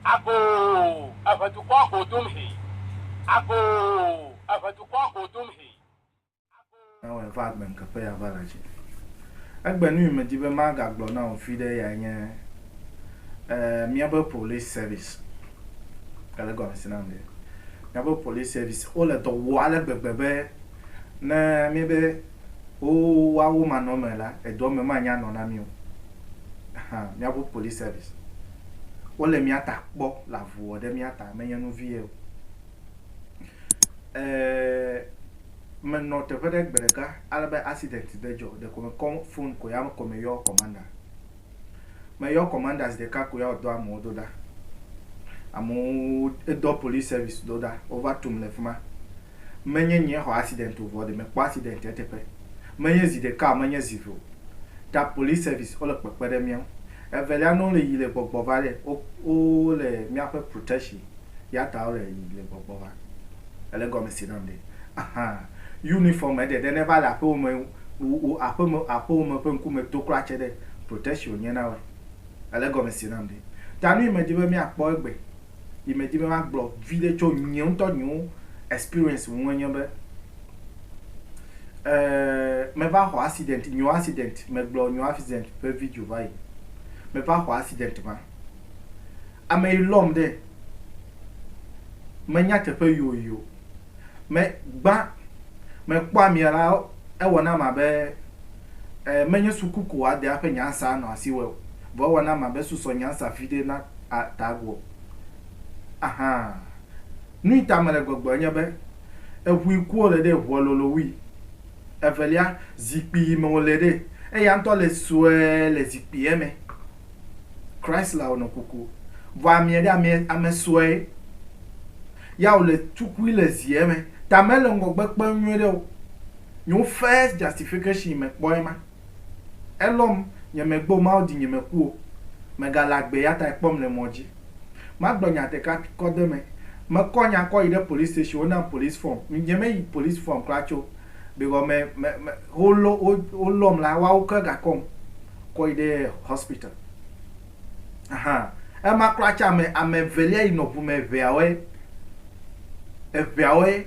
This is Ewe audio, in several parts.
Agoo, eve dukɔa go dom hee. Agoo, eve dukɔa go dom hee. Agoo. Ewɔe va agbe ŋkeƒe ya va le dzi. Egbe nui medi be magagblɔ na wò viɖe yae nye e míabe police service. Ele gɔmesi nam ɖe? Míabe police service wole dɔ wɔ ale gbegbe be ne míebe. Oo, woawo manɔ eme la, edɔ me manya nɔ na mí o. Ahan, míaƒe police service. Wole mía ta kpɔ le avu wɔ ɖe mía ta, menye nu vie o. Ee, menɔ teƒe ɖe gbe ɖeka ale be accident ɖe dzɔ, ɖeko mekɔ phone ko ya ko meyɔ commander. Meyɔ commander zi ɖeka ko ya wòdɔ amewo do ɖa. Amewo, edɔ police service do ɖa, wova tum le fi ma. Menye nyee xɔ accident o vɔ ɖe mekpɔ accident eteƒe. Menye zi ɖeka o, menye zi eve o. Ta police service wole kpekpe ɖe mía ŋu. Evelia ne wole yi le gbɔgbɔ va ɖe, wo wo wole míaƒe protection ya ta wole yi le gbɔgbɔ va. Èle gɔme se nam ɖe? Ahan. Uniform eɖe ɖe ne va le aƒewo me wu wu aƒe me aƒewo me ƒe ŋkume to kura tse ɖe protection wonye na woe. Èle gɔme se nam ɖe? Ta nu yi medi be míakpɔ egbe. yi me dzi be ma gblɔ viɖe tso nye ŋutɔ nye wo experience ŋu enye be, me va xɔ accident, nye wo accident, me gblɔ nye wo accident ƒe video va yi. Me va xɔ accident ma. Ame yi lɔm ɖe, me nya teƒe yi wo yi o. Me gbã, me kpɔ amea la, ewɔ na ma be. Ẽ, menye suku ko wòade eƒe nyansa anɔ asi wɔe o, vɔ ewana ma be susɔ nyansa viɖe na a ta agu o. Ahan. Nui ta mele gbɔgblɔe nye be, eŋui kuo le ɖe ŋua lolo wui. Evelia, zikpui yi me wòle ɖe, eya ŋutɔ le sue le zikpuia me. Chrislawo nɔ kuku. Vɔ amea ɖe, amea, ame sue ya wòle tukui le zie me, ta mele ŋgɔgbe kpem nyuiɖe o. Nyo first justification me kpɔ ema. Elɔm nye me gbe o Mawu di nye me ku o. Me ga le agbe ya ta ekpɔm le mɔ dzi. Ma gblɔ nya ɖeka kɔ de me. Me kɔ nya kɔ yi ɖe police station wo nam police form. Nye me yi police form kura tso because me me me wo lɔ wo wo lɔm la woawo ke ga kɔm kɔ yi ɖe hospital. Ahan ema kura tsa ame ame evelia yi nɔ ʋu me eveawoe eveawoe.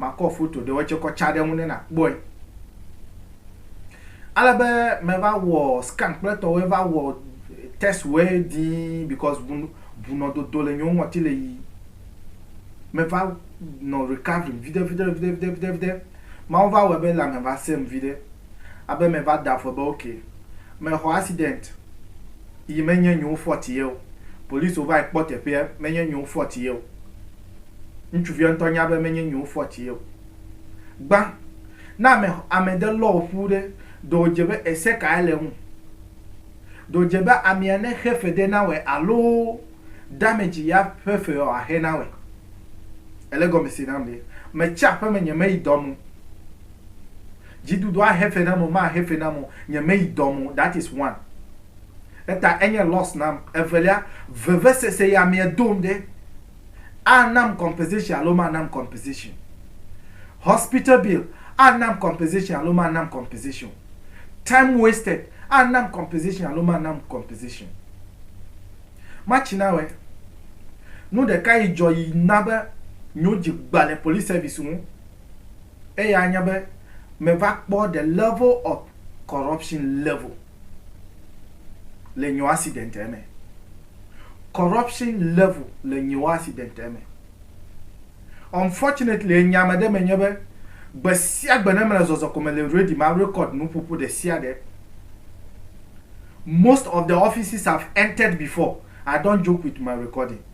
Makɔ foto ɖewo tsɛ kɔ tsa ɖe eŋu ne nàkpɔe. Ale be meva wɔ scan kple etɔwoe va wɔ test woe dii because bu bunɔdodo le nyewo ŋɔti le yiyim. Meva nɔ recovering viɖe viɖe viɖe viɖe viɖe viɖe. Mawu va wɔe be lãme va sẽ ŋu viɖe. Abe meva da afɔ be ok, mexɔ accident yi menye nyewo fault ye o. Policiwo vae kpɔ teƒea, menye nyewo fault ye o. Ŋutsuvia ŋutɔ nya be menye nyiwo fɔ ti ye o. Gbã, ne ame ame ɖe lɔ wò ƒu ɖe, ɖe wòdze be ese kae le eŋu? Ɖe wòdze be amea nexe fe ɖe nawɔe alo damage ya ƒe fe wòaxe nawɔe? Ele gɔme se nam ɖe. Metsi aƒeme nyemeyi dɔ me o. Dziɖuɖua xe fe nam o maxe fe nam o, nyemeyi dɔ me o, that is one. Eta enye loss nam. Evelia, vevesese ya mea dom ɖe. anam compensation alo manam compensation o. Hospital bill anam compensation alo manam compensation o. Time wasted anam compensation alo manam compensation o. Matsi na wɛ. Nu ɖeka yi dzɔ yi na be nyo dzi gba le police service ŋu. Eya nye be me va kpɔ the level of corruption level le nyo accident eme. Corruption level le nyo accident eme. Unfortunately, enya ame ɖe me nye be, gbe sia gbe ne mele zɔzɔ ko me le ready ma record nuƒoƒo ɖe sia ɖe. Most of the offices I've entered before, I don't joke with my recording.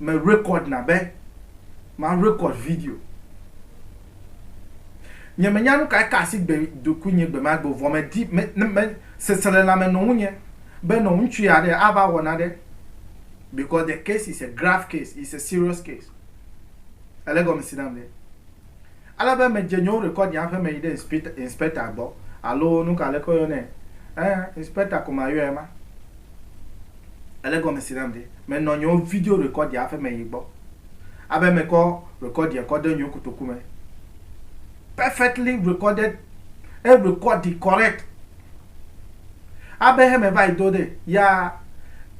Me record na be ma record video. Nye menya nukae ka asi gbe ɖokuinye gbemagbe o, vɔ medi be sesre lãme nɔ ŋunye be nɔ ŋutsu aɖe ava wɔ nane because the case is a grave case, is a serious case. Èle egɔme si nam ɖe? Ale be medze nye worekɔd nye aƒeme yi ɖe inspector gbɔ alo nuka aleke woyɔnɛ ẽ inspector ko mayɔɛ ma ele gɔme si nam ɖi. Menɔ nye wo video rekɔd nye aƒeme yi gbɔ abe mekɔ rekɔd nye kɔ de nye wo kotoku me perfectly recorded e rekɔdi correct. Abe heme va yi do ɖe ya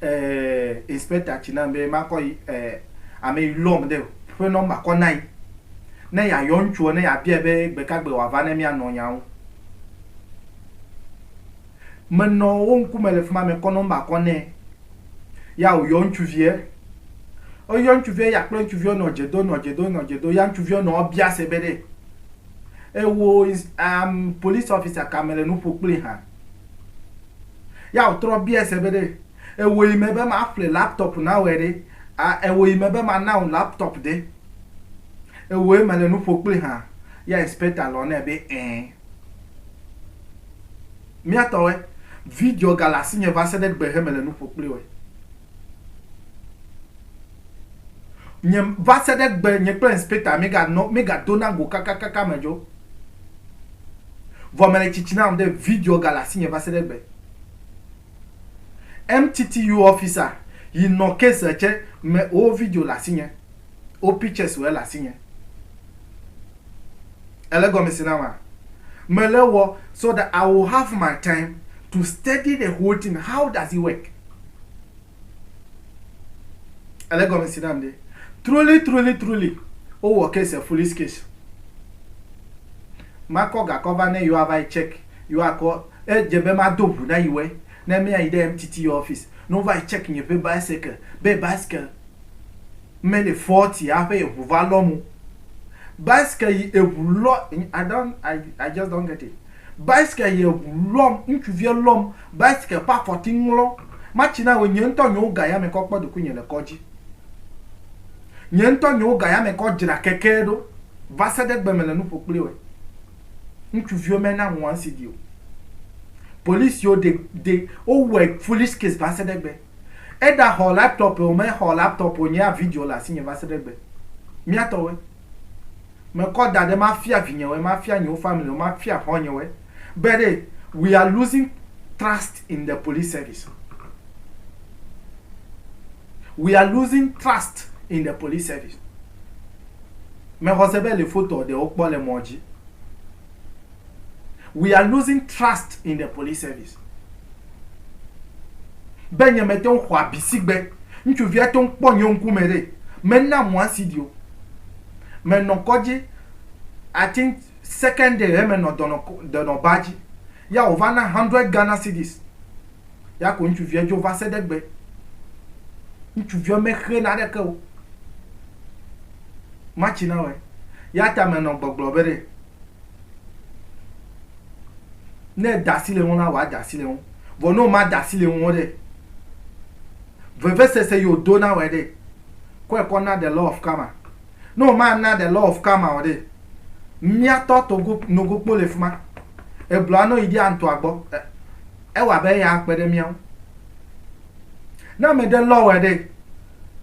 eh, inspector tsi na be makɔ yi eh, ame yi lɔm ɖe ƒe nɔmba kɔ na yi ne yayɔ ŋutsuɔ ne yabia be gbekagbe wòava ne mianɔ nya ŋu. Menɔ wo ŋkume le fi ma mekɔ nɔmba kɔ nɛ ya wòyɔ ŋutsuviɛ. Eyɔ ŋutsuviɛ ya kple ŋutsuviɛ nɔ dze do nɔ dze do nɔ dze do ya ŋutsuviɛ nɔ ebia se be ɖe Ewo is um police officer ka me le nuƒo kpli ha. Ya otrɔ bia se be ɖe ewo yi me be ma ƒle laptop na wɔ ɖe a ewo yi me be ma na wɔ laptop de. Ewo yi me le nuƒo kpli ha. Ya inspector lɔ ne be eh. Mia tɔ we video ga la si nye va se ɖe gbe he me le nuƒo kpli we. Nye va se ɖe egbe nye kple inspector míeganɔ míegadona go kakakaka me dzo. Vɔ mele tsitsi nam ɖe video gale asinye va se ɖe egbe. MTTU officer yi nɔ case tsɛ me wo video le asinye, wo pictures wo ele asinye. Èle gɔmese na ma? Mele wɔ so that I will have my time to study the whole thing how does it work? Ele gɔme si nam ɖe. Truly, truly, truly, wowɔ case a foolish case. Makɔ gakɔ va ne yewoava yi check, yewoakɔ, edze be mado ŋu na yi wɔe ne míayi ɖe MTTU office ne wova yi check nye ƒe bicycle be bicycle. me le fɔti aƒe eʋu va lɔ mo bicycle yi eʋu lɔ i don't i i just don't get it bicycle yi eʋu lɔm ŋutsuvia lɔm bicycle ƒe afɔti ŋlɔ matsi na wò nye ŋutɔ nye wo ga ya me kɔ kpɔ doku nye le kɔdzi nye ŋutɔ nye wo ga ya me kɔ dzra keke ɖo va se ɖe gbe me le nu ƒo kpli wɔ ŋutsuvio me na ŋua ŋsi di o polisi yo de de wo wɔ foolish case va se ɖe gbe Eda xɔ laptop o me xɔ laptop o nyea video le asinye va se ɖe egbe. Mía tɔwoe. Me kɔ da ɖe ma fia vinyewoe, ma fia nyewo family wo, ma fia xɔ nyewoe. Be ɖe we are losing trust in the police service. We are losing trust in the police service. Me xɔ se be le fotoa ɖe wo kpɔ le mɔ dzi. we are losing trust in the police service be nye mete ŋu xɔ abi sigbe ŋutsuvia to ŋkpɔ nye ŋkume ɖe mena mɔ asidi o menɔ kɔdzi I think second day he menɔ dɔnɔ dɔnɔ ba dzi ya wòva na hundred Ghana cedis ya ko ŋutsuvia dzo va se ɖe gbe ŋutsuvia mexe na ɖeke o matsi na wɔe ya ta menɔ gbɔgblɔ be ɖe Ne èda asi le eŋu la, wòada asi le eŋu. Vɔ ne womada asi le eŋu o ɖe, vevesese yi wòdo na wòe ɖe, kɔe kɔ na the law of karma. Ne womana the law of karma o ɖe, mía tɔ togo nogokpo le fi ma. Egblɔa ne woyi ɖi antɔa gbɔ, e, ewɔ abe eya akpe ɖe mía ŋu. Ne ame ɖe lɔ wòe ɖe,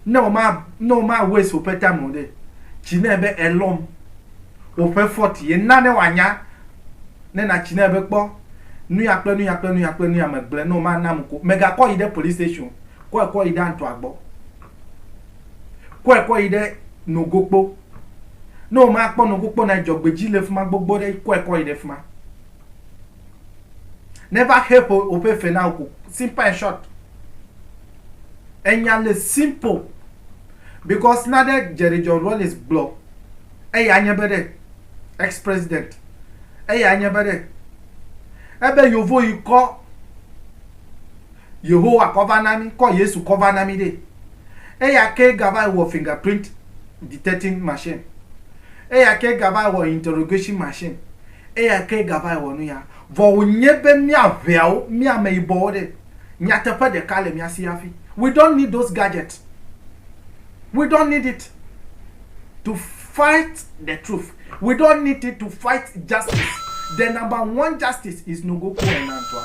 Ne woma ne woma waste woƒe time o ɖe, tsi nɛ be elɔm woƒe fɔti ye na ne wòanya ne natsi nɛ be kpɔ nuya kple nuya kple nuya kple nuya megblẽ ne woma nam ko megakɔ yi ɖe police station kɔe kɔ yi ɖe antɔa gbɔ kɔe kɔ yi ɖe nogokpo ne woma kpɔ nogokpo na dzɔgbedzi le fima gbogbo ɖe kɔe kɔ yi ɖe fima. Never help woƒe fe na woko. Simple and short. Enya le simple. Because na ɖe Jerry John Rawlings gblɔ. Eya nye be ɖe, ex-president. Eya nye be ɖe, ebe yovo yi kɔ Yehowa kɔ va na mi, kɔ Yesu kɔ va na mi ɖe. Eya ke gava yi wɔ fingerprint detecting machine. Eya ke gava yi wɔ interrogation machine. Eya kee gava ewɔ nu ya. Vɔ wònye be mía ŋɛawo, mí ameyibɔwo ɖe, nyateƒe ɖeka le mía si hafi. We don't need those gadgets. We don't need it to fight the truth. We don't need it to fight justice. The number one justice is Nogoku Enantua.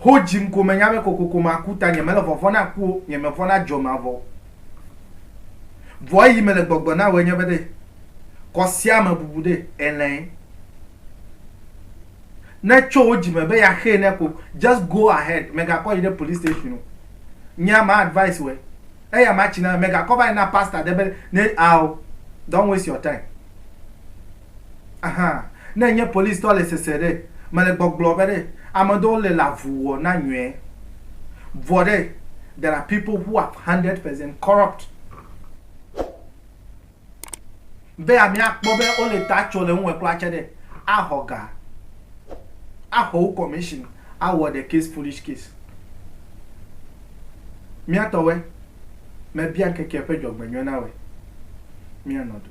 Ho dzim ko menya be kokoko maku ta nye mele vɔvɔ̃ na ku o, nye mevɔ̃ na dzo mavɔ o. Vɔ eyi mele gbɔgblɔ na wòe nye be ɖe kɔ sia me bubu ɖe elɛe. Ne tso wo dzime be ya xee ne ko just go ahead megakɔ yi ɖe police station o. Nyea ma advice wòe. Eya ma tsi na megakɔ va yi na pastor ɖe be ne ao don't waste your time. Aha, ne enye police tɔ le sese ɖe, mele gbɔgblɔ be ɖe, ame ɖewo le la vu wɔ na nyɔɛ. Vɔ ɖe, there are people who are hundred percent corrupt. Be ame akpɔ be wo le ta tso le ŋuwɔɛ kura tse ɖe, a xɔ ga, a xɔ wo commission, a wɔ the case foolish case. Mía tɔwɔɛ, me bia ŋkeke ƒe dzɔgbenyɔɛ na wɔɛ. Mía nɔ do.